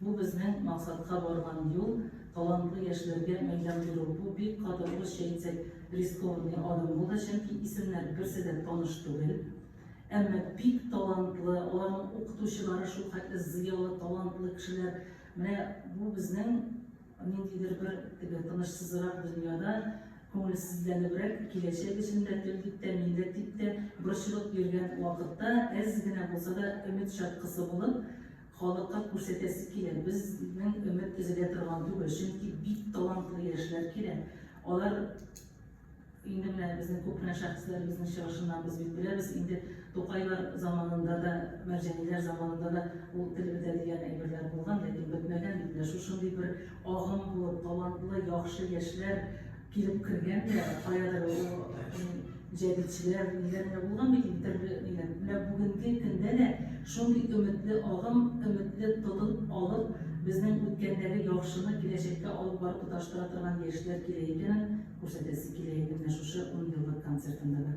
Бу безнең максатка барган юл, талантлы яшьләргә мәйдан бирү. Бу бик каты, урысча әйтсәк, рискованный адым булды, чөнки исемнәр берсе дә таныш түгел. Әмма бик талантлы, аларның укытучылары шулхәтле зыялы, талантлы кешеләр. Менә бу безнең ниндидер бер теге тынычсызрак дөньяда, күңелсезләнебрәк, киләчәк өчен дә, тел дип тә, милләт дип тә борчылып йөргән вакытта әз генә булса да өмет чаткысы булып, Халыкка күрсәтәсе килә, безнең өмет өзелә торган түгел, чөнки бик талантлы яшьләр килә. Алар инде менә безнең күпенә шәхесләребезнең чыгышыннан без бит беләбез, инде Тукайлар заманында да, Мәрҗәниләр заманында да ул тел бетә дигән әйберләр булган, ләкин бетмәгән бит. Менә шушындый бер агым булып, талантлы, яхшы яшьләр Килеп кергән дә, каядыр ул җәдитчеләр, ниләр генә булган бит инде төрле ниләр. Менә бүгенге көндә дә шундый өметле агым, өметле тотын алып, безнең үткәндәге яхшыны киләчәккә алып барып тоташтыра торган яшьләр кирәк икәнен күрсәтәсе килә иде менә шушы унъеллык концертында да.